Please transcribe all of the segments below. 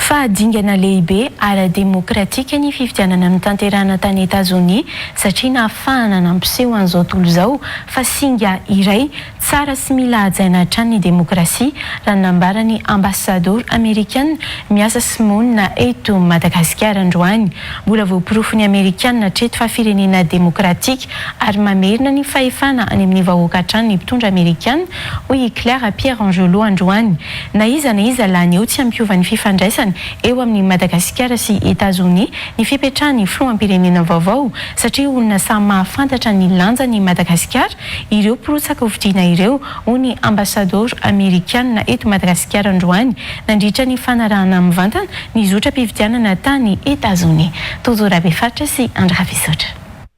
Fa dingana lehibe ara-demokratika ny fifidianana notanterahina tany Etazonia satria nahafahana nampiseho an'izao tontolo izao fa singa iray tsara sy mila hajaina hatrany ny demokrasia, raha ny nambaran'ny Ambassador Amerikana miasa sy monina eto Madagasikara androany. Mbola voaporofon'ny Amerikana hatreto fa firenena demokratika ary mamerina ny fahefana any amin'ny vahoaka hatrany ny mpitondra Amerikana, hoy i Claire Pierre-Angelot androany. Na iza na iza lany eo tsy hampiova ny fifandraisana eo amin'i Madagasikara sy Etazonia ny fipetrahan'ny filoham-pirenena vaovao satria olona samy mahafantatra ny lanjan'i Madagasikara ireo mpirotsaka hofidiana ireo, hoy ny Ambasadaoro Amerikana eto Madagasikara androany nandritra ny fanarahana mivantana ny zotram-pifidianana tany Etazonia. Tojo Rabefaritra sy Andry Rafisotra.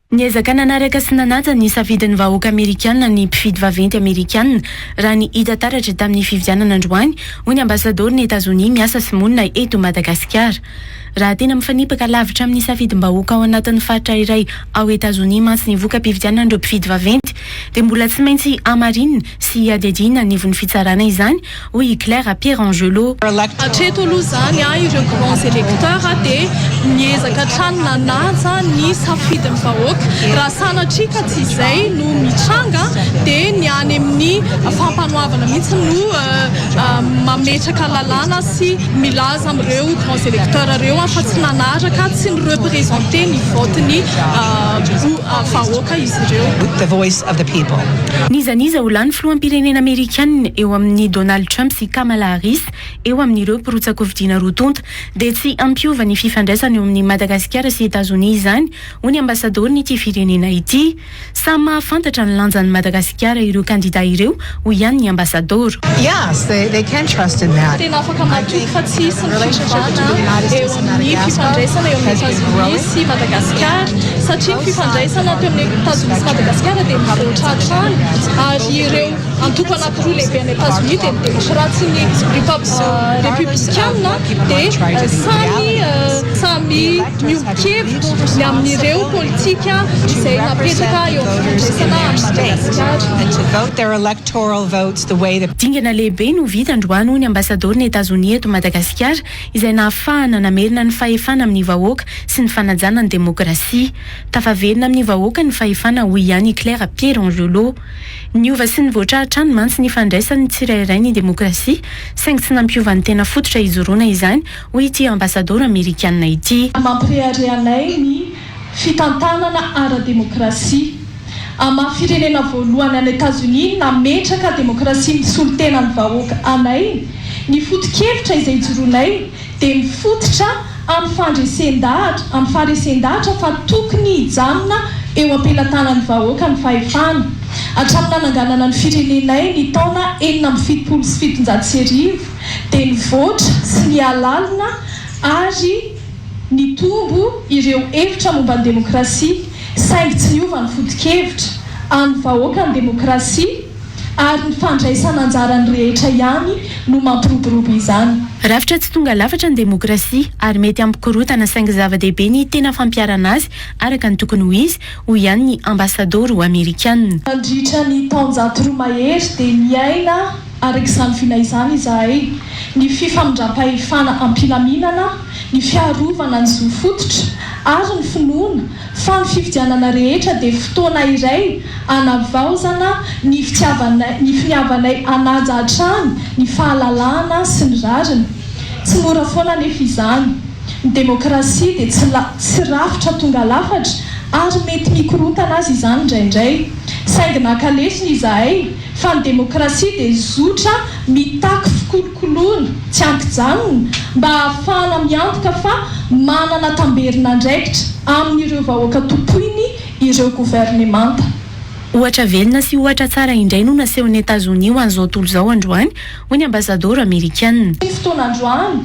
Niezaka nanaraka sy nanaja ny safidin'ny vahoaka Amerikana ny mpifidy vaventy Amerikana, raha ny hita taratra tamin'ny fifidianana androany, hoy ny Ambasadaoron'i Etazonia miasa sy monina eto Madagasikara. Raha tena mifanipaka lavitra amin'ny safidim-bahoaka ao anatin'ny faritra iray ao Etazonia mantsy ny voka-pifidianan'ireo mpifidy vaventy, dia mbola tsy maintsy hamarinina sy hiadiadiana anivon'ny fitsarana izany, hoy i Claire Pierangelo. Hatreto aloha izany, ireo grands électeurs dia miezaka hatrany nanaja ny safidin'ny vahoaka. Raha sanatria ka tsy izay no mitranga dia ny any amin'ny fampanoavana mihitsy no mametraka lalàna sy milaza amin'ireo grands électeurs ireo fa tsy nanaraka, tsy ni-representer ny vote-ny vahoaka izy ireo. N'iza n'iza ho lany filoham-pirenena Amerikana eo amin'ny Donald Trump sy Kamala Harris eo amin'ireo mpirotsa-kofidiana roa tonta dia tsy hampiova ny fifandraisana eo amin'i Madagasikara sy Etazonia izany hoy ny Ambasadaoron'ity firenena ity. Samy mahafantatra ny lanjan'i Madagasikara ireo kandida ireo hoy ihany ny Ambasadaoro. Tena afaka matoky fa tsy hisy ny fiovana eo amin'ny fifandraisana eo amin'i Etazonia sy Madagasikara satria ny fifandraisana teo amin'i Etazonia sy Madagasikara dia mivoatra hatrany ary ireo antoko anankiroa lehibe any Etazonia dia ny demokratsy sy ny repoblikanina dia samy samy Miombon-kevitra ny amin'ireo politika izay napetraka eo amin'ny fifandraisana amin'i Madagasikara. Dingana lehibe no vita androany hoy ny Ambasadaoron'i Etazonia eto Madagasikara izay nahafahana namerina ny fahefana amin'ny vahoaka sy ny fanajana ny demokrasia. Tafaverina amin'ny vahoaka ny fahefana hoy ihany i Claire Pieronriolo. Niova sy nivoatra hatrany mantsy ny ifandraisan'ny tsirairay ny demokrasia saingy tsy nampiova ny tena fototra hijoroana izany hoy ity Ambasadaoro Amerikana ity. Mampirehareha anay ny fitantanana ara-demokrasia. Amin'ny maha firenena voalohany any Etazonia nametraka demokrasia misolo tena ny vahoaka anay, ny foto-kevitra izay ijoroanay dia mifototra amin'ny fandresen-dahatra, amin'ny faharesen-dahatra fa tokony hijanona eo am-pelatanan'ny vahoaka ny fahefana. Hatramin'ny nananganana ny firenenay ny taona enina amby fitopolo sy fitonjato sy arivo, dia nivoatra sy niha lalina ary nitombo ireo hevitra momba ny demokrasia saingy tsy niova ny foto-kevitra an'ny vahoaka ny demokrasia ary ny fandraisana anjaran'ny rehetra ihany no mampiroborobo izany. Rafitra tsy tonga lafatra ny demokrasia ary mety hampikorontana saingy zava-dehibe ny tena fampiharana azy araka ny tokony ho izy, hoy ihany ny Ambasadoro Amerikana. Nandritra ny taonjato roa mahery dia niaina. Araka izany vina izany izahay, ny fifamindram-pahefana am-pilaminana, ny fiarovana ny zo fototra, ary ny finoana fa ny fifidianana rehetra dia fotoana iray hanavaozana ny fitiavanay, ny finiavanay hanaja hatrany ny fahalalahana sy ny rariny. Tsy mora foana anefa izany. Ny demokrasia dia tsy la, tsy rafitra tonga lafatra, ary mety mikorontana aza izany indraindray. Saingy naka lesona izahay. fa ny demokrasia dia zotra mitaky fikolokoloana tsy ankijanona mba hahafahana miantoka fa manana tamberin'andraikitra amin'ireo vahoaka tompoiny ireo governemanta. Ohatra velona sy ohatra tsara indray no nasehon'i Etazonia ho an'izao tontolo izao androany, hoy ny Ambasadaoro Amerikana. Tamin'ity fotoana androany,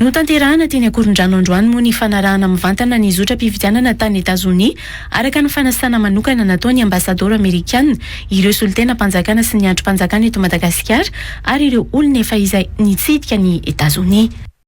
Notanterahana teny Ankorondrano androany moa ny fanarahana mivantana ny zotram-pifidianana tany Etazonia, araka ny fanasana manokana nataon'ny Ambasadaoro Amerikana, ireo solontenam-panjakana sy ny andrim-panjakana eto Madagasikara ary ireo olona efa izay nitsidika an'i Etazonia.